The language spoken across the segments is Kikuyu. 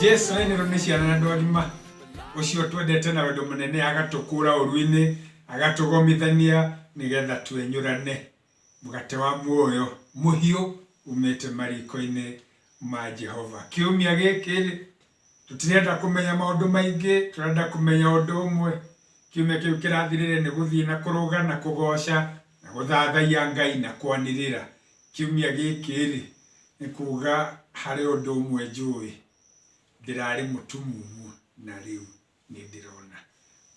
Jesu enero nĩ ciana na andũ agima, ũcio twendete na wendo mũnene agatũkũra ũruinĩ, agatũgomithania nĩgetha twenyũrane mũgate wa muoyo mũhiũ umĩte marikoinĩ ma Jehova. Kiumia gĩkĩ rĩ, tũtirenda kũmenya maũndũ maingĩ, tũrenda kũmenya ũndũ ũmwe, kiumia kĩu kĩrathirire nĩ gũthiĩ na kũrũga na kũgoca na gũthathaiya Ngai na kwanĩrĩra. Kiumia gĩkĩ-rĩ, nĩ kuuga harĩ ũndũ ũmwe njũĩ, ndĩrarĩ mũtumumu na rĩu nĩ ndĩrona.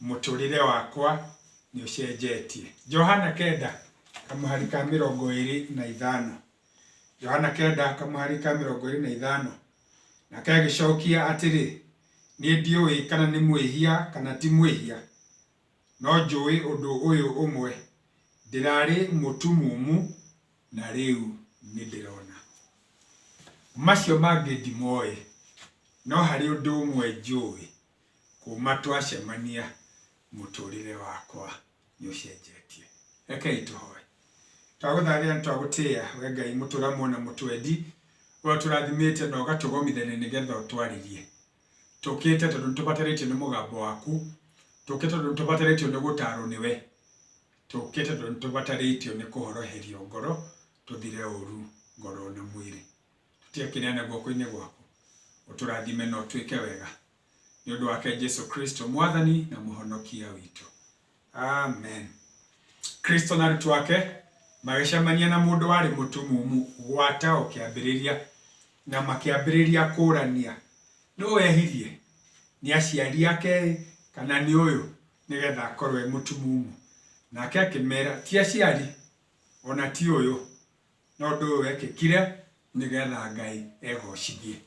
Mũtũrĩre wakwa nĩ ũcenjetie. Johana kenda, kamũhari ka mĩrongo ĩrĩ na ithano. Johana kenda, kamũhari ka mĩrongo ĩrĩ na ithano. Nake agĩcokia atĩrĩ, Niĩ ndiũĩ kana nĩ mwĩhia kana ti mwĩhia. No njũĩ ũndũ ũyũ ũmwe, ndĩrarĩ mũtumumu na rĩu nĩndĩrona. Macio mangĩ ndimoĩ, no harĩ ũndũ ũmwe njũĩ, kuuma twacemania mũtũrĩre wakwa nĩũcenjetie. Rekei tũhoe. Twagũthathaiya na twagũtĩĩa, we Ngai mũtũramu ona mũtwendi, ũrĩa ũtũrathimĩte na ũgatũgomithania nĩgetha ũtwarĩrie. tũkĩte tondũ nĩtũbatarĩtio nĩ mũgambo waku, tũkĩte tondũ nĩtũbatarĩtio nĩ gũtarwo nĩwe, tũkĩte tondũ nĩtũbatarĩtio nĩ kũhoroherio ngoro tũthire ũru ngoro na mwĩrĩ. Tũtiakĩneana guoko-inĩ gwaku, ũtũrathime na ũtwĩke wega, nĩũndũ wake Jesu Kristo mwathani na mũhonokia witũ. Amen. Kristo na arutwo ake magĩcemania na mũndũ warĩ mũtumumu gwata o kĩambĩrĩria, na makĩambĩrĩria kũũrania, nũ wehirie, nĩ aciari ake-ĩ, kana nĩ ũyũ, nĩgetha akorwo e mũtumumu? Nake akĩmera, ti aciari, o na ti ũyũ, no ũndũ ũyũ wekĩkire, nĩgetha Ngai egocithie.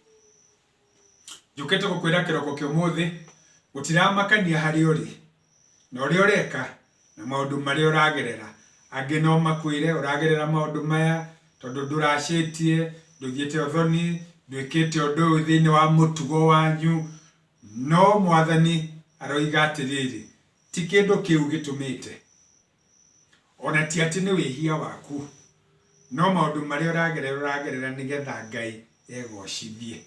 Njũkĩte gũkwĩra kĩroko kĩa ũmũthĩ, gũtiramakania harĩa ũrĩ, na ũrĩa ũreka, na maũndũ marĩa ũragerera. Angĩ no makwĩre ũragerera maũndũ maya tondũ ndũracĩtie, ndũigĩte ũthoni, ndwĩkĩte ũndũ ũyũ thĩinĩ wa mũtugo wanyu, no Mwathani aroiga atĩrĩrĩ, ti kĩndũ kĩu gĩtũmĩte ona ti atĩ nĩ wĩhia waku, no maũndũ marĩa ũragerera ũragerera nĩgetha Ngai egocithie.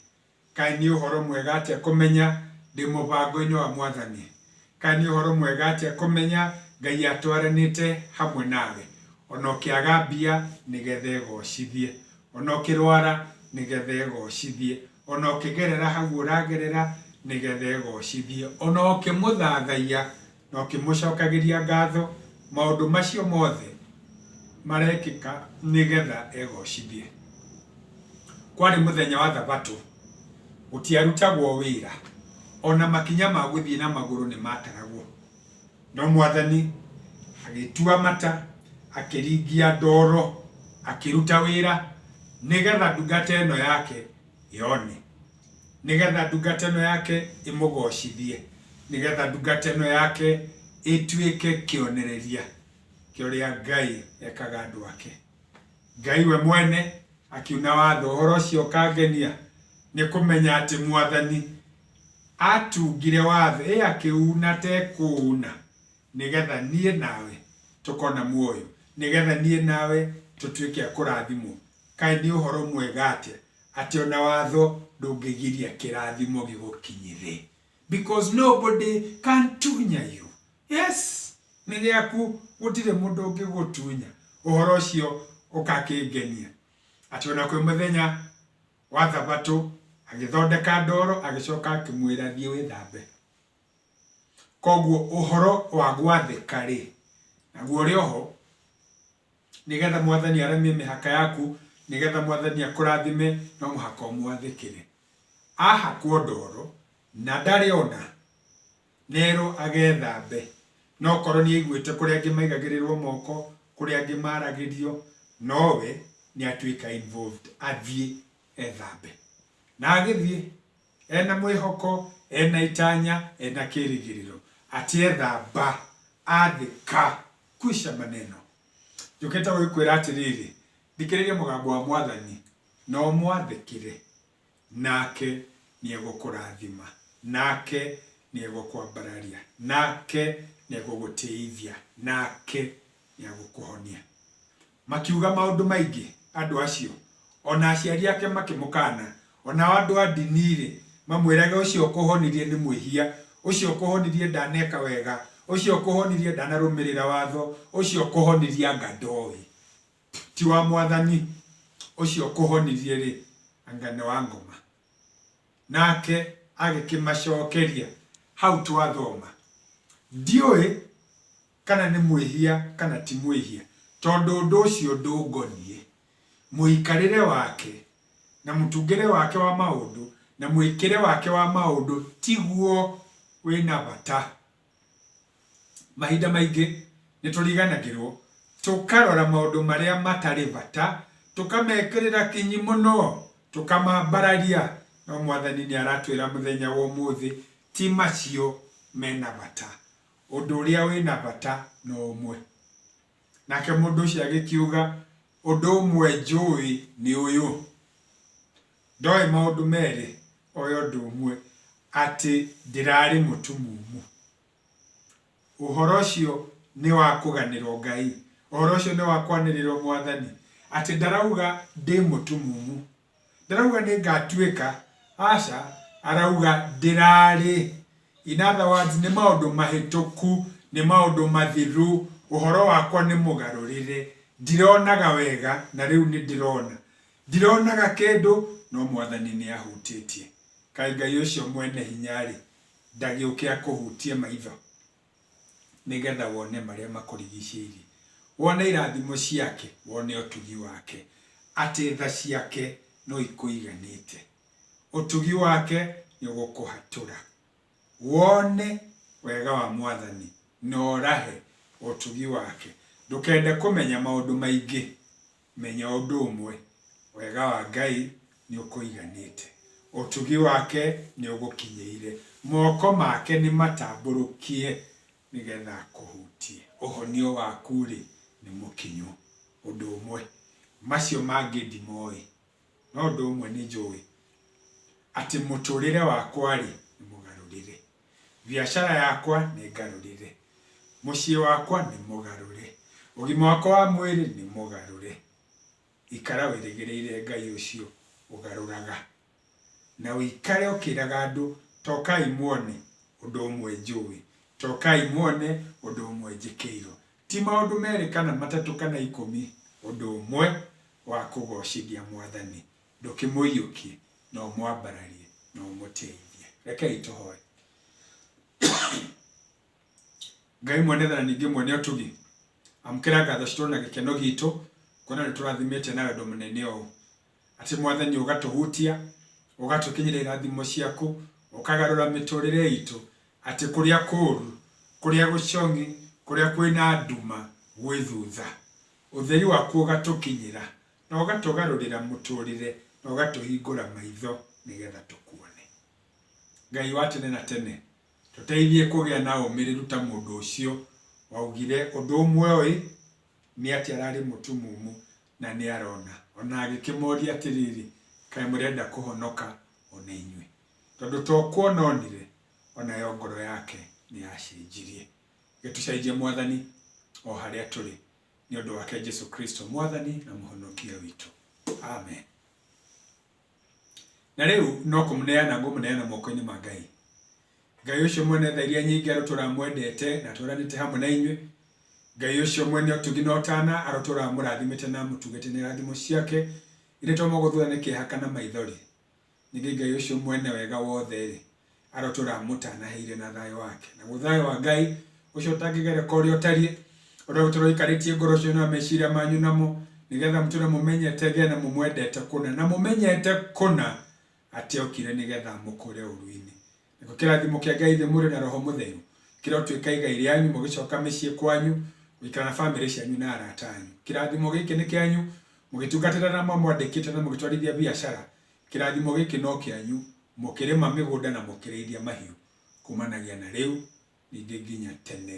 Kaĩ nĩ ũhoro mwega atĩa kũmenya ndĩ mũbango-inĩ wa Mwathani? Kaĩ nĩ ũhoro mwega atĩa kũmenya Ngai atwaranĩte hamwe nawe? Ona ũkĩaga mbia nĩgetha egocithie, ona ũkĩrwara nĩgetha egocithie, ona ũkĩgerera hau ũragerera nĩgetha egocithie, ona ũkĩmũthathaiya na ũkĩmũcokagĩria ngatho maũndũ macio mothe marekĩka nĩgetha egocithie. Kwarĩ mũthenya wa thabatũ, gũtiarutagwo wĩra, o na makinya ma gũthiĩ na magũrũ nĩ maataragwo. No Mwathani agĩtua mata, akĩringia ndoro, akĩruta wĩra nĩgetha ndungata ĩno yake yone. nĩgetha ndungata ĩno yake ĩmũgocithie, nĩgetha ndungata ĩno yake ĩtuĩke kĩonereria kĩa ũrĩa Ngai ekaga andũ ake. Ngai we mwene akiuna watho, ũhoro ũcio ũkangenia nĩ kũmenya atĩ mwathani atungire watho, ĩ akĩuna tekũuna, nĩgetha niĩ nawe tũkona muoyo, nĩgetha niĩ nawe tũtuĩke a kũrathimwo. Kaĩ nĩ ũhoro mwega atĩa Atĩ ona watho ndũngĩgiria kĩrathimo gĩgũkinyĩre because nobody can tunya you. Yes, nĩ gĩaku gũtirĩ mũndũ ũngĩgũtunya. Ũhoro ũcio ũgakĩngenia. Atĩ ona kwĩ mũthenya wa thabatũ agĩthondeka ndoro agĩcoka akĩmwĩra thiĩ wĩthambe. Koguo ũhoro wa gwathĩka rĩ, naguo ũrĩ oho Nĩgetha Mwathani aremie mĩhaka yaku, Nĩgetha Mwathani akũrathime, no mũhaka ũmwathĩkĩre. Ahakwo ndoro, na ndarĩ ona, na erwo agethambe, no korwo nĩaiguĩte kũrĩ angĩ maigagĩrĩrwo moko, kũrĩ angĩ maragĩrio, no we nĩatuĩka involved, athiĩ ethambe. Na agĩthiĩ. Ena mwĩhoko, ena itanya, ena kĩrĩgĩrĩro. Atĩ ethamba, atheka. Kwisha maneno. Njũkĩte gũgĩkwĩra atĩrĩrĩ, thikĩrĩria mũgambo wa Mwathani, na ũmwathĩkĩre. Nake nĩegũkũrathima. Nake nĩegũkwambararia. Nake nĩegũgũtĩithia. Nake nĩegũkũhonia. Makiuga maũndũ maingĩ andũ acio, o na aciari ake makĩmũkaana. O nao andũ a ndini-rĩ, mamwĩrage, Ũcio ũkũhonirie nĩ mwĩhia, ũcio ũkũhonirie ndaneka wega, ũcio ũkũhonirie ndanarũmĩrĩra watho, ũcio ũkũhonirie anga ndoĩ, ti wa Mwathani, ũcio ũkũhonirie-rĩ, anga nĩ wa ngoma. Nake agĩkĩmacokeria, Hau twathoma, Ndiũĩ kana nĩ mwĩhia kana ti mwĩhia, tondũ ũndũ ũcio ndũngoniĩ. Mũikarĩre wake, na mũtungĩre wake wa maũndũ, na mwĩkĩre wake wa maũndũ tiguo wĩ na bata. Mahinda maingĩ nĩ tũriganagĩrwo, tũkarora maũndũ marĩa matarĩ bata, tũkamekĩrĩra kinyi mũno, tũkamambararia, no Mwathani nĩ aratwĩra mũthenya wa ũmũthĩ, ti macio me na bata. ũndũ ũrĩa wĩ na bata na ũmwe. Nake mũndũ ũcio agĩkiuga, Ũndũ ũmwe njũĩ nĩ ũyũ, ndoĩ maũndũ merĩ, oĩ ũndũ ũmwe, atĩ ndĩrarĩ mũtumumu. Ũhoro ũcio nĩ wa kũganĩrwo Ngai, ũhoro ũcio nĩ wa kwanĩrĩrwo Mwathani, atĩ ndarauga ndĩ mũtumumu. Ndarauga nĩngatuĩka, aca, arauga ndĩrarĩ. In other words, nĩ maũndũ mahĩtũku, nĩ maũndũ mathiru, ũhoro wakwa nĩ mũgarũrĩre, ndironaga wega na rĩu nĩndĩrona. Ndironaga kĩndũ, no Mwathani nĩahutĩtie. Kaĩ Ngai ũcio Mwene-Hinya-rĩ, ndagĩũke akũhutie maitho? nĩgetha wone marĩa makũrigicĩirie, wone irathimo ciake, wone ũtugi wake, atĩ tha ciake no ikũiganĩte, ũtugi wake nĩ ũgũkũhatũra, wone wega wa Mwathani na ũrahe ũtugi wake, ndũkende kũmenya maũndũ maingĩ Menya ũndũ ũmwe, Wega wa Ngai nĩũkũiganĩte. Ũtugi wake nĩũgũkinyĩire. Moko make nĩmatambũrũkie nĩgetha akũhutie. Ũhonio waku-rĩ, nĩ mũkinyu. Ũndũ ũmwe, Macio mangĩ ndimoĩ, no ũndũ ũmwe nĩnjũĩ, Atĩ mũtũrĩre wakwa-rĩ, nĩ mũgarũrĩre. Biacara yakwa nĩ ngarũrĩre. Mũciĩ wakwa nĩ mũgarũre. Ũgima wakwa wa mwĩrĩ nĩ mũgarũre. Ikara wĩrĩgĩrĩire Ngai ũcio ũgarũraga. Na ũikare ũkĩraga andũ, Tokai muone ũndũ ũmwe njũĩ. Tokai muone ũndũ ũmwe njĩkĩirwo. Ti maũndũ merĩ kana matatũ kana ikũmi, ũndũ ũmwe wa kũgoocithia Mwathani. Ndũkĩmũiyũkie, no ũmwambararie, na ũmũteithie. Rekei tũhoe. Ngai mwene tha na ningĩ mwene ũtugi, amũkĩra ngatho citũ na gĩkeno gitũ, kuona nĩ tũrathimĩte na wendo mũnene ũũ. Atĩ Mwathani ũgatũhutia, ũgatũkinyĩria irathimo ciaku, ũkagarũra mĩtũrĩre itũ, atĩ kũrĩa kũũru, kũrĩa gũcong'i, kũrĩa kwĩna nduma gwĩ thutha, ũtheri waku ũgatũkinyĩra, na ũgatũgarũrĩra mũtũrĩre na ũgatũhingũra maitho nĩgetha tũkuone. Ngai wa tene na tene, tũteithie kũgĩa na ũmĩrĩru ta mũndũ ũcio waugire ũndũ ũmwe ũĩ, nĩ atĩ ararĩ mũtumumu na nĩ arona, ona agĩkĩmoria atĩrĩrĩ, kaĩ mũrenda kũhonoka ona inyuĩ? Tondũ to kuona onire, onayo ngoro yake nĩ yacenjirie. Gĩtucenjie Mwathani o harĩa tũrĩ, Nĩ ũndũ wake Jesu Kristo Mwathani na Mũhonokia witũ. Amen. Na rĩu no kũmũneana ngũmũneana moko-inĩ ma Ngai. Ngai ũcio mwene tha iria nyingĩ arũtũra mwendete na tũranĩte hamwe na inyuĩ. Ngai ũcio mwene ũtugi na ũtana arũtũra mũrathimĩte na amũtugĩte na irathimo ciake irĩ to mũgũthũra nĩ kĩeha kana maithori. Ningĩ Ngai ũcio mwene wega wothe-rĩ, arotũũra amũtanaheire na thayũ wake. Naguo thayũ wa Ngai, ũcio ũtangĩgereka ũrĩa ũtariĩ, ũrogĩtũũra ũikarĩtie ngoro cianyu na meciria manyu namo, nĩgetha mũtũũre mũmenyete Ngai na mũmwendete kũna, na mũmenyete kũna atĩ okire nĩgetha amũkũũre ũũru-inĩ. Nakĩo kĩrathimo kĩa Ngai nĩ mwĩrĩ na roho mũtheru kĩrotuĩka igai rĩanyu mũgĩcoka mĩciĩ kwanyu gũikara na famĩlĩ cianyu na arata anyu. Kĩrathimo gĩkĩ nĩ kĩanyu mũgĩtungatĩra na mamwandĩkĩte na mũgĩtwarithia biacara. Kĩrathimo gĩkĩ no kĩanyu mũkĩrĩma mĩgũnda na mũkĩrĩithia mahiũ kumanagia na rĩu ningĩ nginya tene